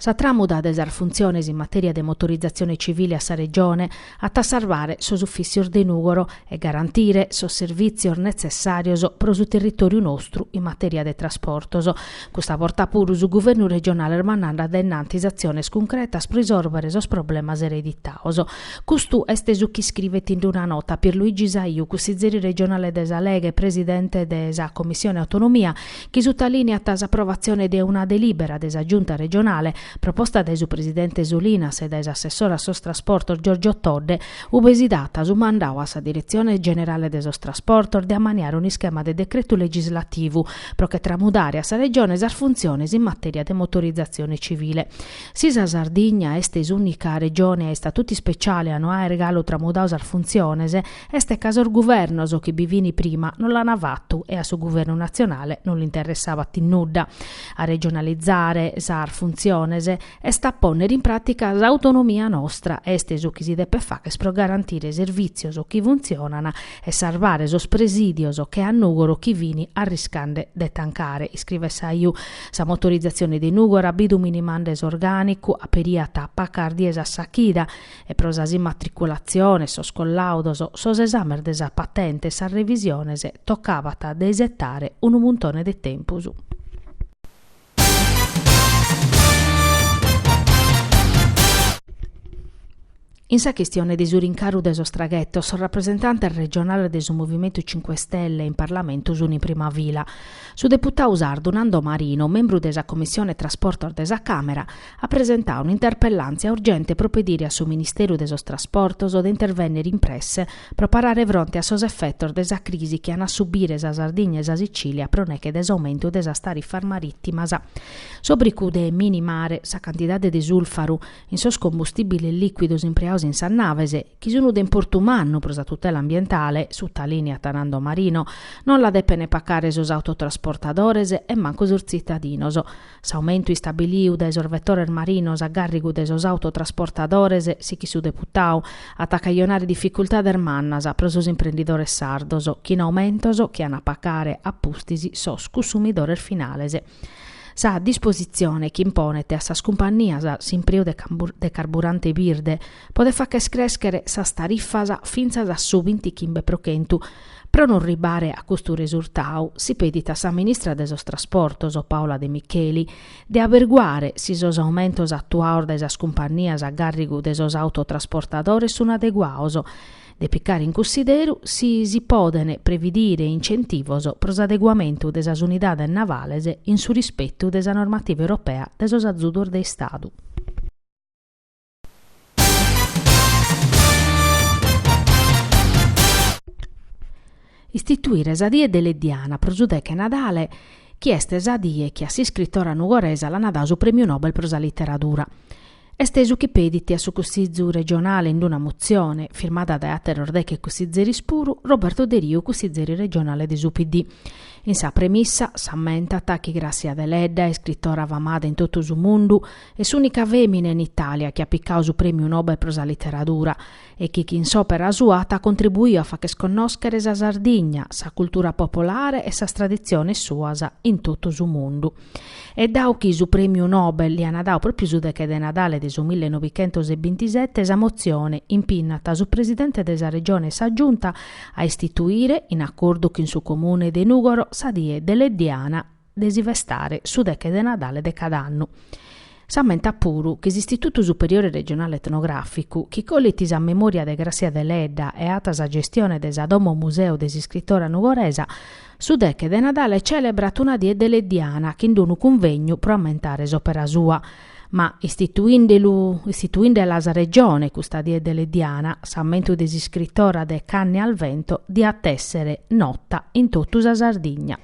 Sa tramuda de sas funtziones in matèria de motorizatzione civile a sa Regione at a sarvare sos ufìtzios de Nùgoro e garantire sos servìtzios netzessàrios pro su territòriu nostru in matèria de trasportos. Custa borta puru su Guvernu regionale mandat a dae innantis atziones cuncretas pro risòrbere sos problemas ereditados. Custu est su chi iscrivet in una nota Pierluigi Saiu, cussizeri regionale de sa Lega e presidente de sa Commissione Autonomia, chi sutalìniat s'aprovatzione de una delìbera de sa Giunta regionale, proposta dae su presidente Solinas e dae s'assessore a sos trasportos Giorgio Todde, ue si dat su mandadu a sa Diretzione generale de sos trasportos de ammaniare un'ischema de decretu legislativu pro che tramudare a sa Regione sas funtziones in matèria de motorizatzione civile. Si sa Sardigna est s'ùnica Regione a istatutu ispeciale a no àere galu tramudadu sas funtziones, Est ca sos guvernos chi bi fin prima non l'an fatu e a su guvernu natzionale non l'interessabat in nudda. A regionalizare sas funtziones est a pònnere in pràtica s'autonomia nostra, est su chi si depet fagher pro garantire servìtzios chi funtzionan e sarvare sos presìdios che a Nùgoro chi fin arriscande de tancare, iscrivet Saiu. Sa motorizatzione de Nùgoro at bidu minimande s'orgànicu aperiat pacas dies a sa chida, e pro sas immatriculatziones, sos collaudos, sos esàmenes de sa patente e sas revisiones tocabat de isetare unu muntone de tempus. In sa chistione de su rincaru de sos traghetos, sos rapresentantes regionales de su Movimentu Cinque Stelle in Parlamentu sunt in prima fila. Su deputadu sardu Nando Marino, membru de sa Commissione Trasportos de sa Càmera, at presentadu un'interpellàntzia urgente pro pedire a su Ministeru de sos Trasportos de intervènnere in presse pro parare fronte a sos efetos de sa crisi chi an a subire sa Sardigna e sa Sitzìlia pro neghe de s'aumentu de sas tarifas marìtimas. S'òbricu de minimare sa cantidade de sulfaru in sos combustìbiles lìcuidos impreados in sas naves, chi sun de importu mannu pro sa tutela ambientale, sutalìniat Nando Marino, non la depene pacare sos autotrasportadores e mancu sos tzitadinos. S'aumentu istabiliu dae sos vetores marinos a gàrrigu de sos autotrasportadores, sichit su deputadu, at a cajonare dificultades mannas pro sos imprendidores sardos, chin aumentos chi an a pacare a pustis sos cussumidores finales. Sa dispositzione ch'imponet a sas cumpannias s'impreu de carburante birde, Podet facher crèscher sas tarifas fintzas a su bintichimbe pro chentu. Pro non ribare a custu resurtadu, si pedit a sa ministra de sos Trasportos, Paola De Micheli, de aberguare si sos aumentos atuados dae sas cumpannias a gàrrigu de sos autotrasportadores sun adeguados, de picare in cunsideru si si poden previdire incentivos pro s'adeguamentu de sas unidades navales in su rispetu de sa normativa europea de sos azudos de Istadu. Istituire sa die deleddiana pro su deche Nadale chi est sa die chi a s'iscritora nugoresa l'ana dadu su Prèmiu Nobel pro sa Literadura. Est su chi pedit a su Cussizu regionale in una motzione, firmada dae àteros deche cussizeris puru, Roberto Deriu, cussizeri regionale de su PD. In sa premissa s'ammentat chi Gràssia Deledda, iscritora famada in totu su mundu, Est s'ùnica fèmina in Itàlia chi at picadu su Prèmiu Nobel pro sa literadura e chi chin s'òpera sua at contribuidu a facher connòschere sa Sardigna, sa cultura popolare e sas traditziones suas in totu su mundu. E dau chi su Prèmiu Nobel li an dadu pròpiu su deche de Nadale de su mille novichentos e bintisete, sa motzione impinnat su presidente de sa Regione e sa Giunta a istituire, in acordu chin su Comune de Nùgoro, sa Die Deleddiana. de si festare su deche de Nadale de cada annu. S'ammentat puru chi s'Istitutu Superiore Regionale Etnogràficu, chi colit sa memòria de Grassia Deledda e at sa gestione de sa Domo Museu de s'iscritora nugoresa, su deche de Nadale celebrat una die deleddiana chin d'unu cunvegnu pro ammentare s'òpera sua, ma istituindelu istituindela sa Regione custa die deleddiana s'ammentu de s'iscritora de Canne al vento diat essere nota in totu sa Sardigna.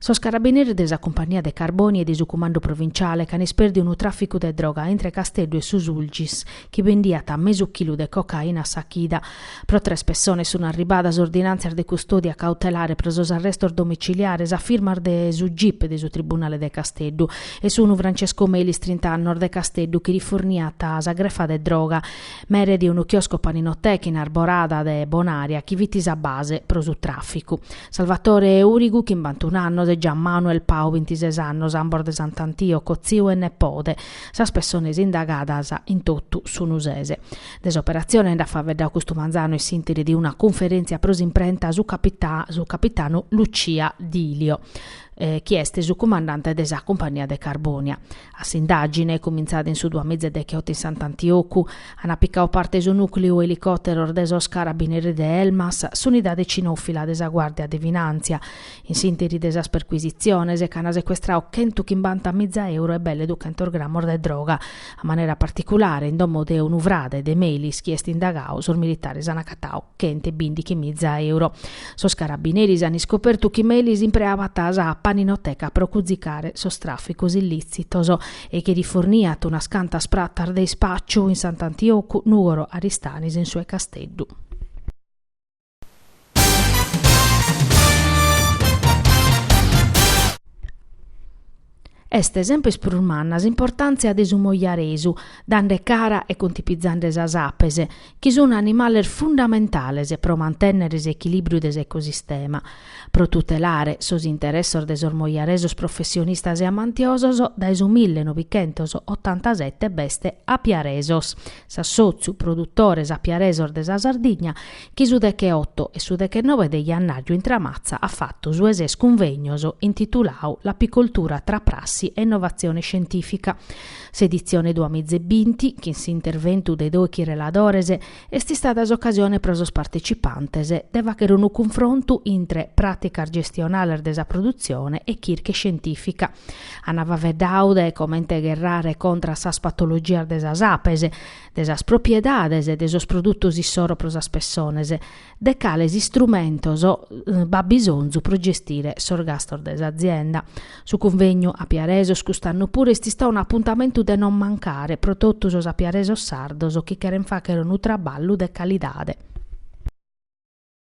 Sos carabineris de sa cumpagnia de Carbònia e de su cumandu provinciale ch'an ispèrdiu unu tràficu de droga intre Casteddu e su Sulcis, chi bendiat mesu chilu de cocaina a sa chida. Pro tres pessones sunt arribadas ordinàntzias de custòdia cautelare pro sos arrestos domiciliares a firmas de su gip de su tribunale de Casteddu e sunu Francesco Melis, trinta annos, de Casteddu, chi rifurniat sa grefa de droga mere de unu chiosco paninoteca in Arborada de Bonaria chi fit sa base pro su tràficu. Salvatore Urigu chimbantun annos e Gian Manuel Pau bintises annos, ambos de Sant'Antioco, tziu e nepode. Sas pessones indagadas in totu sun ses. De s'operatzione nd'at faveddadu custu manzanu in s'interi de una cunferèntzia pro s'imprenta su capitanu Lucia Dilio, chi est su cumandante de sa cumpagnia de Carbònia. A s'indàgine, cumintzada in su duamiza e dechiotu in Sant'Antiocu, an apicau parte su nùcleu elicòteros de sos Carabiniris de Elmas, s'unidade cinòfila de sa Guàrdia de Finàntzia. In s'ìnteri de sas percuisitziones ch'an secuestrau chentu chimbanta miza euro e belle duchentos gramos de droga, a manera particulare, in domo de unu frade de Melis chi est indagau, sos militares an acatau chent'e bìndighi miza euro. Sos carabineris an iscopertu chi Melis impreabat sa paninoteca pro cuzicare sos tràficos illìtzitos e chi riforniat unas cantas pratas de ispàciu in Sant'Antiocu, Nùgoro, Aristanis e in su 'e Casteddu. Est semper prus manna s'importàntzia de su mojaresu, dande cara e cuntipizande sas apes, chi sunt animales fundamentales pro mantènnere s'echilìbriu de s'ecosistema. Pro tutelare sos interessos de sos mojaresos professionistas e amantiosos, dae su millenovichentos otantasete b'est Apiaresos, s'assòtziu produtores apiaresos de sa Sardigna, chi su deche otto e su deche nobe de jannarju in Tramatza at fatu su 'e ses cunvegnos intitulau L'apicoltura tra prassi e innovazione scientifica. S'editzione duamiza e binti, chin s'interventu de dòichi reladores, est istada s'ocasione pro sos partecipantes de fàghere unu cunfrontu intre pràticas gestionales de sa produtzione e chirca scientìfica. Ant faveddau de comente gherrare contra a sas patologias de sas apes, de sas propriedades de sos produtos issoro pro sas pessones, de cales istrumentos b'at bisonzu pro gestire sos gastos de s'azienda. Su cunvegnu Apiaresos cust'annu puru est istadu un'apuntamentu de non mancare pro totu sos apiaresos sardos chi cheren fagher unu traballu de calidade.